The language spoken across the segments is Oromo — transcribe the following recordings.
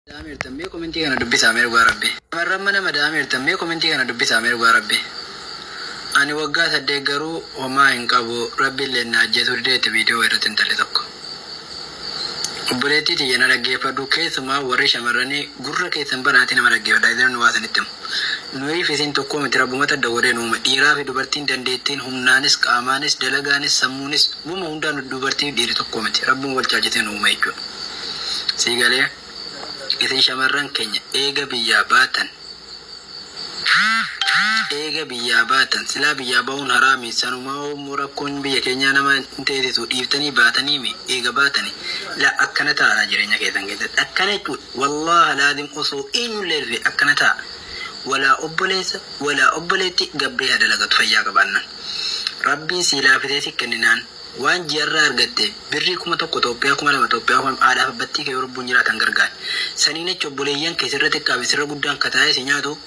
mada'ameertan mee komentii kana dubbisaa mee dhugaa rabbi shamarran mana mada'ameertan mee komentii kana dubbisaa mee dhugaa rabbi ani waggaa saddeet garuu homaa hin qabu rabbilleen na ajjeesuu didee itti video erratti intalli tokko obboleettii tiyya na dhaggeeffadhu keessumaa warri shamarranii gurra keessan banaatii nama dhaggeeffadha isinan waa isinitti himu. Nuyiif isiin tokkoo miti rabbumatu adda godhee nu uume dhiiraafi dubartiin dandeettiin humnaanis qaamaanis dalagaanis sammuunis wama hundaanu dubartiifi dhiiri tokkoo miti rabbuma wal caalchisee nu uume jechuudha sii galee isin shamarran keenya eega biyyaa baatan eega biyyaa baatan silaa biyyaa bahuun haraami sanumaahuu immoo rakkoon biyya keenyaa nama hin teesisu dhiiftanii baataniimi eega baatani laa akkana taa'araa jireenya keessan keessatti akkana jechuudha. Wallaah laazim osoo eenyullee irree akkana taa walaa obboleessa walaa obboleetti gabbee haa dalagatu fayyaa qabaannan rabbiin sii laafisee si kenninaan waan ji'arraa argatte birrii kuma tokko xoophiyaa kuma lama xoophiyaa kuma lama haadhaaf abbattii kee yoo lubbuun jiraatan gargaari saniin achi obboleeyyan kee sirra xiqqaa fi sirra guddaan kataa'ee si nyaatu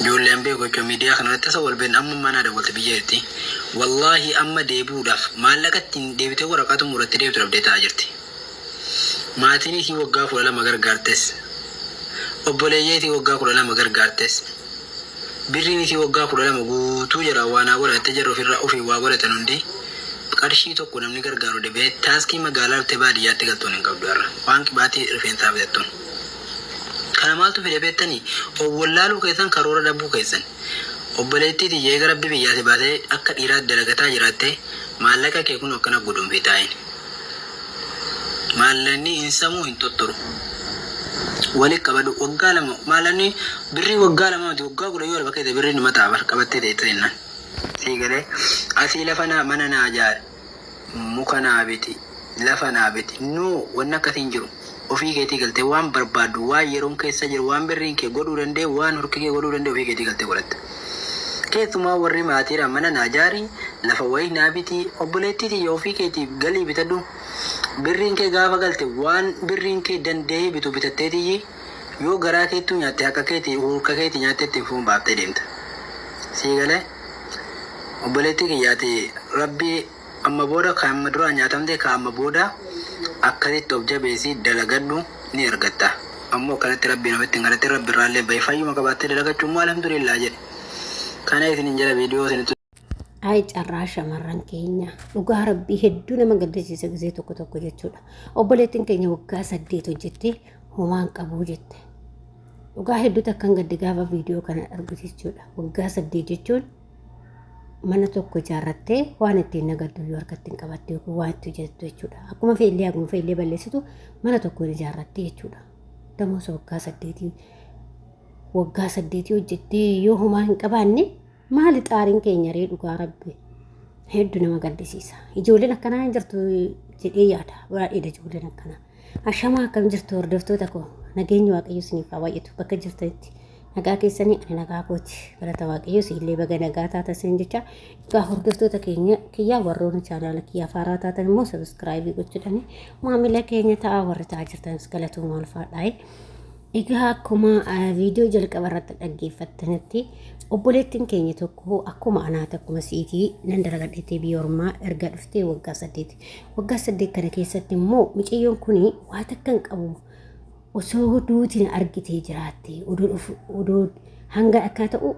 Ijoollee an beeku jechuun miidiyaa kana irratti isa wal beekna amma ammaa naa dawwalte biyya itti wallaahi amma deebi'uudhaaf maallaqa ittiin deebitee waraqaa xumuratti deebitu dhabdee taa'aa jirti. Maatiin isii waggaa kudha lama gargaartes obboleeyyee isii waggaa kudha lama gargaartes birriin isii waggaa kudha lama guutuu jira waa naa godha jettee jarri ofirraa ofiin waa godhatan hundi qarshii tokko namni gargaaru dhabee taaskii magaalaa dhuftee baadiyyaatti galtuun hin qabdu har'a waan qibaatii rifeensaa bitattuun. Kana maaltu fide beettanii? Of wallaaluu keessan karoora dhabuu keessan. Obboleettii tiyya eega Rabbi biyyaa si baasee akka dhiiraa dalagataa jiraatte maallaqa kee kunoo akkana guduunfii taa'in. Maallaqni hin samuu hin xuxxuru. Wali qabadhu waggaa lama maallaqni birrii waggaa lama miti waggaa kudha yoo lafa keessa birrii numa ta'a bar qabattee teessa jennaan. Sii galee asii lafa naa mana naa jaari. muka naa biti, lafa naa biti, no wanni akkasii hin jiru. Ofii keetii galtee waan barbaaddu, waan yeroon keessa jiru, waan birriin kee godhuu danda'e, waan hurki kee godhuu danda'e ofii keetii galtee godhatta. Keessumaa warri maatiidhaan mana naa jaari, lafa wayii naa biti, obboleettii tiyya ofii keetiif galii bitadhu. Birriin kee gaafa galte waan birriin kee danda'ee bitu bitatteetiyyi. Yoo garaa keettuu nyaatte haqa keeti hurka keeti nyaatte ittiin foon baaftee deemta. Sii galee? Obboleettii kiyya ati Rabbii amma booda kan amma duraa nyaatamte kan amma booda akkasitti of jabeessi dalagadhu ni argatta. Ammoo akkanatti Rabbii namatti hin kadhatin Rabbi irraallee bahi fayyuma qabaattee dalagachuun moo Alhamdulillah jedhi. Kana isinin jedha video isinitti Ayi carraa shamarran keenya dhugaa rabbii hedduu nama gaddisiisa gisee tokko tokko jechuudha. Obboleettiin keenya waggaa saddeet hojjettee homaan qabuu jette. Dhugaa hedduu takkan gadde gaafa viidiyoo kana argu jechuudha. Waggaa saddeet jechuun mana tokko ijaarrattee waan ittiin nagaddu yoo harkatti hin qabatte yookiin waan itti hojjettu jechuudha. Akkuma feellee haguma feellee balleessitu mana tokko hin ijaarratte jechuudha. Damosa waggaa saddeetii waggaa saddeetii hojjettee yoo homaa hin qabaanne Maali xaariin keenya ree dhugaa rabbi heddu nama gaddisiisa. Ijoolleen akkanaa hin jirtu jedhee yaada. Baay'eedha ijoolleen akkanaa. Ashamaa akkam jirtu hordoftoota koo. Nageenyi waaqayyo isiniif haa baay'atu bakka jirtanitti. Nagaa keessanii ani nagaa kooti. Galata waaqayyo siillee baga nagaa taata isin jecha. Egaa hordoftoota keenya kiyyaa warroonni chaanaala kiyyaa faaraa taatan immoo sabiskiraayibii gochuudhaan maamila keenya ta'a warri ta'a jirtanis galatoomaa ulfaadhaa. Egaa akkuma viidiyoo jalqaba irratti dhaggeeffattanitti obboleettiin keenya tokko akkuma anaati akkuma siitii nan dalagadheettee biyya ormaa erga dhuftee waggaa saddeeti. Waggaa saddeet kana keessatti immoo mucayyoon kun waa takka hin qabu osoo duutiin argitee jiraatte odoo hanga akkaa ta'u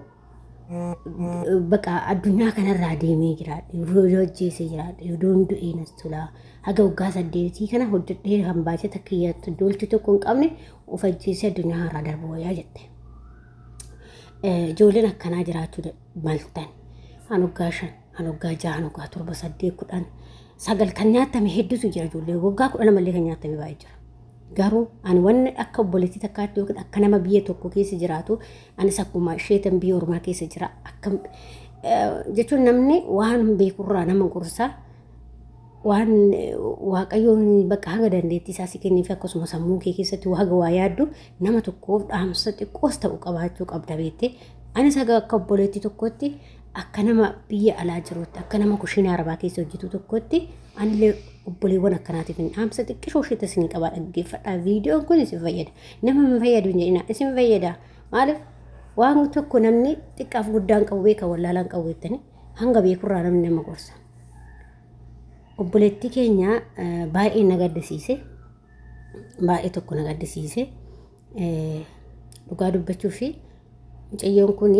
baqa addunyaa kanarraa deemee jiraadhe yoo hojjeese jiraadhe yoo du'ee nas tolaa haga waggaa saddeetii kana hojjedhee kan baay'ee takka yaattu dooltii tokko hin qabne of ajjeesee addunyaa irraa darbu wayyaa jette. Ijoolleen akkanaa jiraachuu maltan kan waggaa shan kan waggaa jaha kan waggaa torba saddeet kudhan sagal kan nyaatame hedduutu jira ijoollee waggaa kudhan ammallee kan nyaatame baay'ee jira. garuu ani wanni akka obboleettii takkaatti yookiin akka nama biyya tokko keessa jiraatu Anis akkuma isheetan biyya ormaa keessa jira. Akkam jechuun namni waan hin beekurraa nama gorsa. Waan waaqayyoon bakka haga dandeettii isaa si kenneef akkasuma sammuu kee keessatti haga waa yaaddu nama tokkoof dhaamsa xiqqoos ta'u qabaachuu qabda beektee. Anis haga akka obboleettii tokkotti akka nama biyya alaa jiruutti akka nama kushiinaa arabaa keessa hojjetu tokkotti anillee obboleewwan akkanaatiif hin dhaamsa xiqqishoo isheetti isin qabaa dhaggeeffadhaa viidiyoon kun isin fayyada nama hin fayyadu hin jedhina isin fayyada maaliif waan tokko namni xiqqaaf guddaan qabu beeka wallaalaan qabu jettanii hanga beekurraa namni nama gorsa obboleettii keenya baay'ee na gaddisiise baay'ee tokko na gaddisiise dhugaa dubbachuu fi mucayyoon kun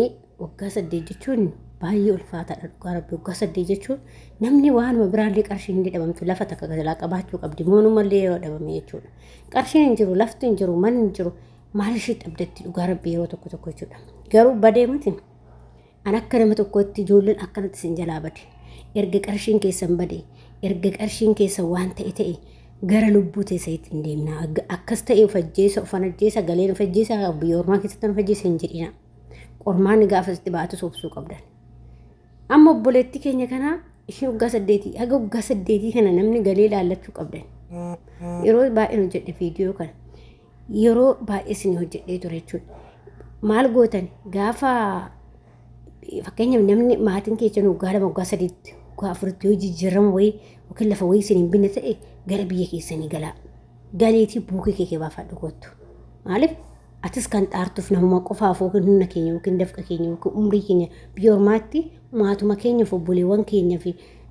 Waggaa saddeet jechuun baay'ee ulfaataadha dhugaa rabbi waggaa saddeet jechuun namni waanuma biraallee qarshiin illee dhabamtu lafa takka jalaa qabaachuu qabdi moonumallee yoo dhabame jechuudha qarshiin hin jiru lafti hin jiru manni hin jiru maal ishii dhabdetti dhugaa rabbi yeroo tokko tokko jechuudha garuu badee miti an akka nama tokkootti ijoolleen akkanatti sin jalaa bade erga qarshiin keessan bade erga qarshiin keessan waan ta'e ta'e gara lubbuu teessa ittiin deemna akkas ta'e of ajjeesa of ajjeesa galeen of ajjeesa biyya ormaa keessatti of ajjeesa hin jedhina Qormaanni gaafa sitti baatus obsuu qabdan. Amma obboleettii keenya kanaa isheen waggaa saddeetii haga waggaa saddeetii kana namni galee ilaallachuu qabdan. Yeroo baay'een hojjedhe viidiyoo kana. Yeroo baay'ee isin hojjedhee ture jechuudha. Maal gootan gaafa fakkeenyaaf namni maatiin keessan waggaa lama waggaa sadiitti waggaa afuritti yoo jijjiirama wayii yookiin lafa wayii isin hin binne ta'e gara biyya keessanii galaa. Galeetii buukii kee kee baafadhu kottu. Maaliif atis kan dhaartuuf namuma qofaaf yookiin humna keenya yookiin dafqa keenya yookiin umrii keenya biyya ormaatti maatuma keenyaaf obboleewwan keenyaaf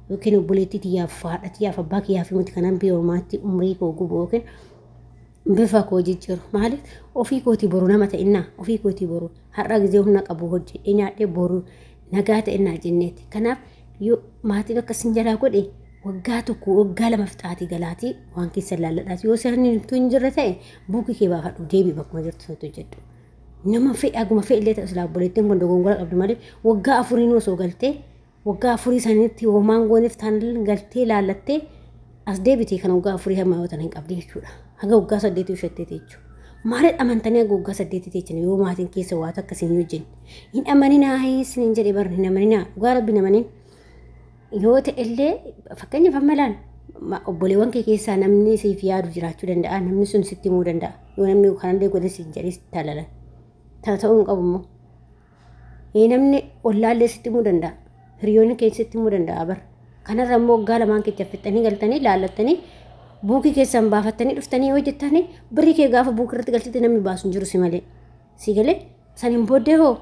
yookiin obboleettii tiyyaaf haadha tiyyaaf abbaa kiyyaaf miti kanan biyya ormaatti umrii koo gubu yookiin bifa koo jijjiiru maaliif ofii kootii boru nama ta'innaa ofii kootii boru har'a gizee humna qabu hojjedhee nyaadhee boru nagaa ta'innaa jenneeti kanaaf yoo maatiin akka isin jalaa godhe waggaa tokko waggaa lama fixaatii galaatii waan keessa laalladhaas yoo seerni nutti hin jirre ta'e buukii kee baafadhu deebii bakkuma jirtu sanatti hojjedhu. Nama fedhe aguma fedhe illee ta'u silaa obboleettiin kun dogongora qabdu malee waggaa afuriin osoo galtee waggaa afurii sanitti homaan gooneef taan galtee laallattee as deebitee kan waggaa afurii hamma yoo tan hin qabdi jechuudha. Haga waggaa saddeetii ushattee jechuudha. Maaliin amantanii haga waggaa saddeetii teechan yoo maatiin keessa waa takka isin hin hojjenne. Hin amaninaa isin hin jedhe barri hin amaninaa dhugaa rabbi hin amanin. Yoo ta'ellee fakkeenyaaf amma ilaali. Obboleewwan kee keessaa namni siif yaadu jiraachuu danda'a. Namni sun sitti himuu danda'a. Yoo namni kanallee godhe siif jedhee sitti halalan. Tana ta'uu hin qabu immoo. Ee namni ollaallee sitti himuu danda'a. Hiriyoonni keenya sitti himuu danda'a bara. Kanarra immoo waggaa lamaan kecha fixxanii galtanii laallattanii buukii keessaan baafattanii dhuftanii yoo jettanii birrii kee gaafa buukii irratti galchite namni baasu hin jiru si malee. si galee saniin booddee hoo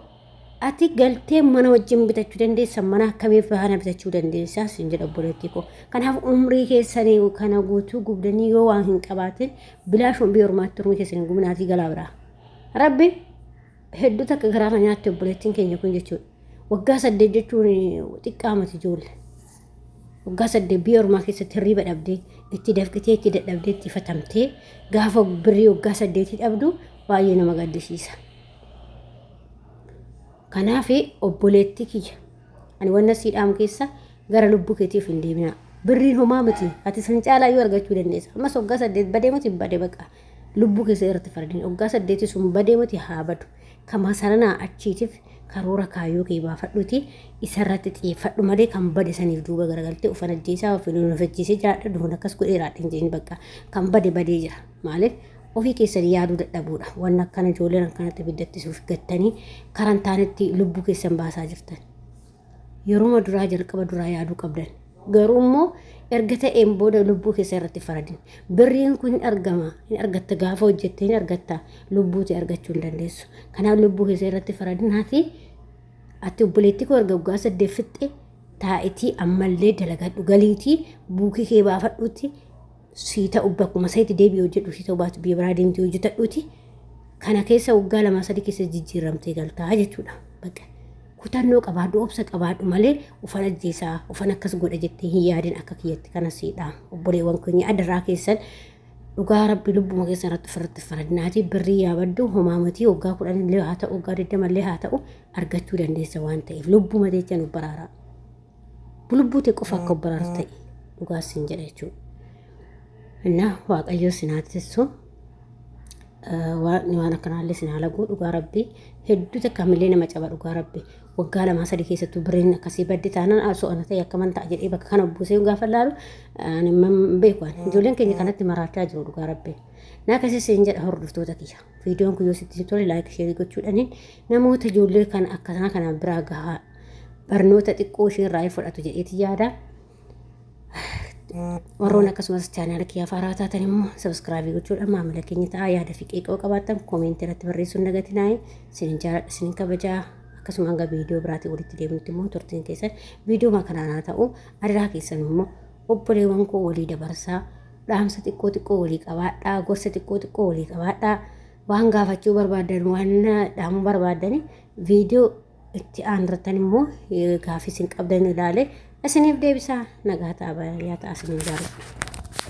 ati galtee mana wajjin bitachuu dandeessa mana akkamii faana bitachuu dandeessa sin jedha obboleettii koo kanaaf umrii keessanii kana guutuu gubdanii yoo waan hin qabaatin bilaashuun biyya ormaatti umrii keessanii gubinaatii galaa biraa rabbi hedduu takka garaa na nyaatte obboleettiin keenya kun jechuudha waggaa saddeet jechuun xiqqaa mati ijoollee. waggaa saddeet biyya ormaa keessatti hirriiba dhabdee itti dafqitee itti dadhabdee itti fatamtee gaafa birrii waggaa saddeetii dhabdu baay'ee nama gaddisiisa. Kanaaf obboleettii kiyya ani wanna sii dhaamu keessa gara lubbuu keetiif hin deebinaa. Birriin homaa miti ati san caalaa yoo argachuu dandeessa. Ammas waggaa saddeet badee miti bade baqa lubbuu keessa irratti fardeen waggaa saddeetii sun badee miti haa badu. Ka masaranaa achiitiif karoora kaayyoo kee baafadhuutii isarratti xiyeeffadhu malee kan bade saniif duuba garagaltee ufan ajjeesaa ofi nuun of ajjeesee jiraadha duun akkas godhee jiraadha hin jedhin bakka kan bade badee jira maaliif ofii keessan yaaduu dadhabuudha wanna akkana ijoolleen akkanatti ibiddatti suuf gattanii karan taanetti lubbuu keessan baasaa jirtan. yeruma duraa jalqaba duraa yaaduu qabdan garuu immoo erga ta'een booda lubbuu keessa irratti faradin birriin kun hin argama hin argatta gaafa hojjette hin argatta lubbuuti argachuu hin dandeessu kanaaf lubbuu keessa irratti faradin hafi ati obboleettii koo erga waggaa saddeet fixxe taa'itii ammallee dalagadhu galiitii buukii kee baafadhuutti sii ta'u bakkuma seetti deebi'i hojjedhu sii ta'u baatu biyya biraa deemtee hojjetadhuuti kana keessa waggaa lamaa sadii keessa jijjiiramtee galtaa jechuudha. Bakka kutannoo qabaadhu obsa qabaadhu malee ufan ajjeesaa ufan akkas godha jettee hin yaadin akka kiyyatti kanasiidha. Obboleewwan keenya adarraa keessan dhugaa rabbi lubbuma keessa irratti ofirratti faradnaatii birrii yaabaddu homaa matii waggaa kudhan illee haa ta'u waggaa digdama illee haa ta'u argachuu dandeessa waan ta'eef lubbuma jecha nu baraaraa. lubbuu tee qofa akka obbaraartu ta'i dhugaa siin jedha jechuudha. Innaa waaqayyoo sin haa tissu waaqni waan akkanaallee sin haa laguu dhugaa rabbii hedduu takka hamillee nama caba dhugaa rabbii waggaa lamaa sadii keessattuu birriin akkasii baddi taanaan asoo ana ta'e akka man ta'a jedhee bakka kana buusee gaafa laalu ani man beeku ani ijoolleen keenya kanatti maraachaa jiru dhugaa rabbii. Naa akkasii siin jedha hordoftoota kiyya. Viidiyoon kun yoo sitti tole laayik sheerii gochuudhaaniin namoota ijoollee kana akkasaa kana biraa gahaa. barnoota xiqqoo ishee irraa hin fudhatu jedheeti yaada. Warroon akkasumas chaanaala kiyyaaf haaraa taatan immoo sabiskiraabii gochuudhaan maamila keenya ta'aa yaada fi qeeqoo qabaatan koomentii irratti barreessuun dagatinaa'e sinin jaaladha sinin kabajaa akkasuma hanga viidiyoo biraatiin walitti deemutti immoo turtiin keessan viidiyoo kanaan haa ta'u adaraa keessan immoo obboleewwan koo walii dabarsaa dhaamsa xiqqoo xiqqoo walii qabaadhaa gorsa xiqqoo xiqqoo walii qabaadhaa waan gaafachuu barbaadan waan dhaamuu barbaadan viidiyoo itti aanurrattan immoo gaafii isin qabdan ilaale isiniif deebisaa nagaa ta'a baay'ee ta'a isiniin jaalladha.